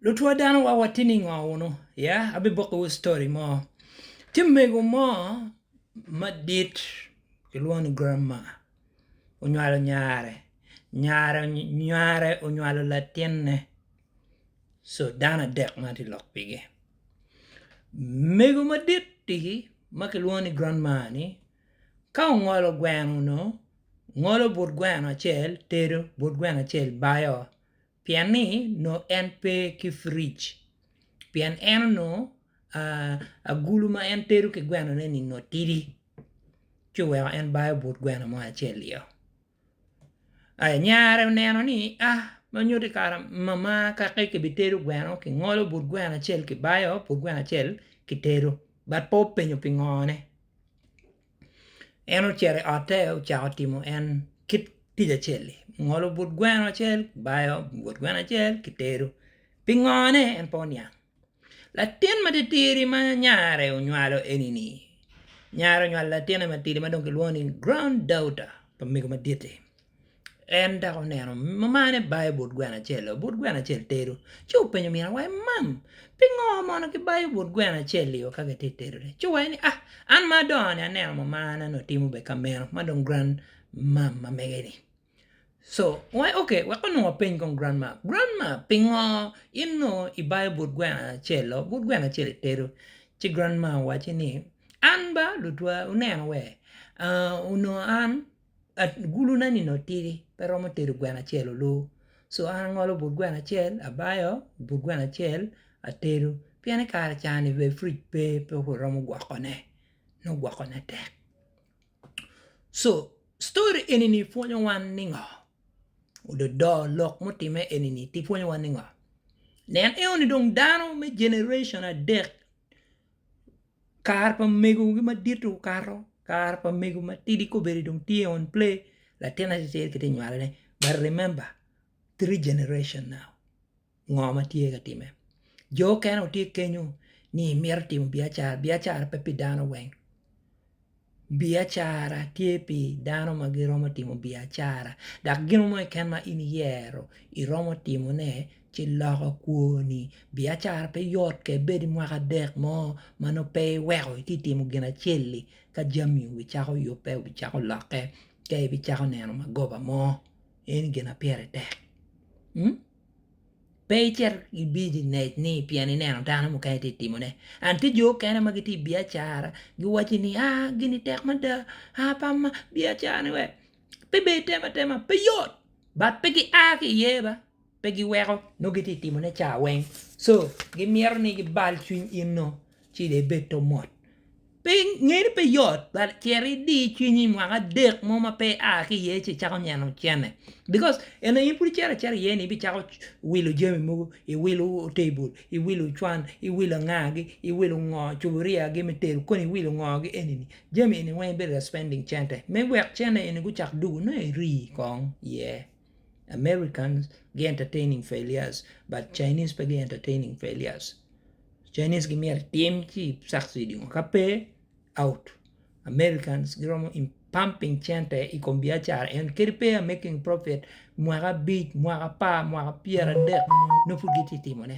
Lutwo dano wa watye ningo wunu ya abiboko wu story mo tye mego mo madit kilwongo ni grandma onywalo nyare nyare onywalo latinne so dano adek ma tye lok pigi mego madit ti ma kilwongo ni grandma ni ka ongolo gweno onongo ngolo but gweno acel tedo but gweno acel bayo pien ni nongo en pe ki fridge pien en onongo agulu ma en tedo ki gweno ne ni nongo tidi ci oweko en bayo but gweno mo acel i ye aya nyare oneno ni a ma nyuto kara mama kaki kibitedo gweno kingolo but gweno acel kibayo but gweno acel kitedo but pe openyo pingo ne. En ocito i otte ocako timo en kit tic acel-li ngolo but gweno acel bayo but gweno acel ki tedo pingone en pe oniang latin matitidi ma nyare onywalo eni-ni nyare onywalo latine matidi ma dong kilwongo ni grand daughter pa mego madit-ti. En dok oneno mane bayo but gweno acel-lo. But gweno acel tedo. Ci openyo min awayi ni, Mam, pingo mono kibayo but gweno acel-liu ka kitye ka tedone? Ci owaci ni, Ah, an ma adongo-ni aneno mamana onongo timo bene ka meno ma dong gran mam ma mege-ni. Co, owaci ni, Ok, wek onongo apeny kong gran mam. Gran mam, pingo in onongo ibayo but gweno acel-lo, but gweno acel itedo? Ci gran mam owacci ni, An ba lutwa wuneno wee, onongo an agulune nino otidi pe romo tedo gweno acel oloo co an angolo but gweno acel abayo but gweno acel atedo pien i kare cani dong puc pe pe waromo gwokone nongo gwokone tek co story eni pwonyo wan ni ngo ododo lok mutime eni tye pwonyo wan ni ngo nen eno ni dong dano me generation adek Kare pa megogi madit-ti okato, kare pa mego matidi ka obedo ni dong tye on play, latin acel-acel kitye ka nywalone. But remember, three generation now, ngo ma tye ka timme? Jo okene gitye kenyo ni mito timo biacara, biacara pe pi dano weng. Biacara tye pi dano ma giromo timo biacara dok gino mo keken ma in iyero iromo timone ci loko kwoni biacara pe yot ka ibed i mwaka dek mo ma nongo pe iweko iti timo gin acel-li ka jami obicako yubbe obicako lokke ka ibicako neno magoba mo eno gin ma pire tek. pe icit ki bijinec ni pien ineno dano mukene tye ka timone and tye jo mukene ma gitye i biacara giwaco ni gini tek mada biacara ni pe ber item atema pe yot but pe gia ki iye ba pe giweko nongo gitye ka timone cawa weng so gimito ni gibal cwiny in dong. Ci dong ibed to mot. Pe nge ni pe yot but cit idi cwinyi mwaka adek mo ma pe ia ki iye ci icako nyeno cene because eni aye in pud icito acita iye ni ibicako wilo jami mogo, iwilo table, iwilo cwan, iwilo anga gi, iwilo ngo cuburia gi me tedo koni iwilo ngo gi eni ni jami eni weng ibedo ka spending cente me wek cene eni gucak dugo nongo iri kong iye. Americans gi entertaining failures but Chinese pe gi entertaining failures. Chinese gimyero itim ci succeed ka pe out. Americans giromo in pumping cente i kom biacara en kadi pe aye making profit mwaka abic, mwaka apar, mwaka pyer adek nongo pud gitye ka timone.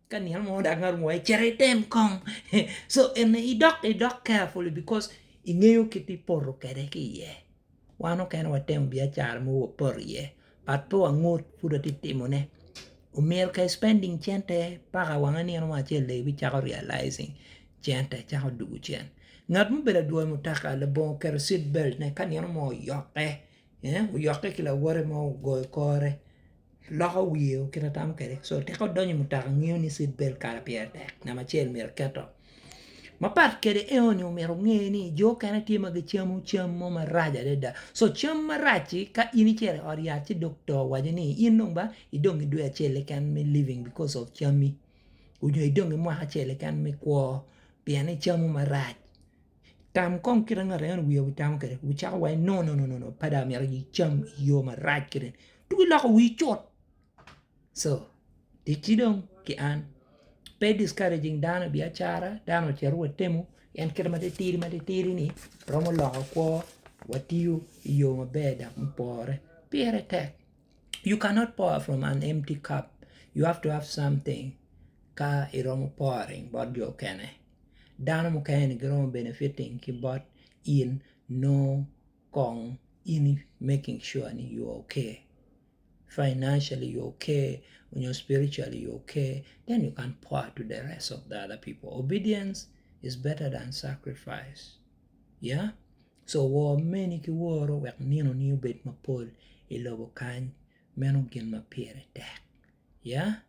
Ka nino mo dano aruu aye cit item kong so eni idok idok carefully because ingeyo kit ma ipoto kwede ki iye wan mukene watemo biacara mogo wapoto iye but pe wangut pud watye ka timone omyero ka i spending cente paka wange nino mo acel lega icako realizing cente cako dwogo cen ngat ma obedo adwoyo mutoka labongo oketo seat belt ne ka nino mo oyokke oyokke ki lawote mo ogoyo kore. Loko wiye o kit atamo kwede so tika odonyo i mutoka ngiyo ni seat belt kala pire tek namba acel myero eketo mapat kwede eoni myero onge ni jo okene tye ma gicamo cam mo marac adada so cam marac-ci ka in icito i ot yat ci dokta owaco ni in dong ba idong ki dwe acel keken me living because of cammi nyo idong ki mwaka acel keken me kwo pien icamo marac. Tam kong kit ma ngat acel wiye wocamo kwede wucako wa ni no no no pe dong amyero icam i yo marac kiri tuk iloko wii cut co ticci dong ki an pe discouraging dano i biacara dano ocito wa temo pien kit ma titidi ma titidi ni romo loko kwo watiyo i yo maber dok me pore pire tek you cannot pour from an empty cup you have to have something ka iromo pouring bot jo mukene. Dano mukene ni giromo benefiting ki bot in nongo kong in i making sure ni you are ok. Financially you are ok nyo spiritually you are ok then you can pour to the rest of the other people. Obedience is better than sacrifice yeah so wor meni ki woro wek ninoni obed mapol i lobo kany meno gin ma pire tek yeah.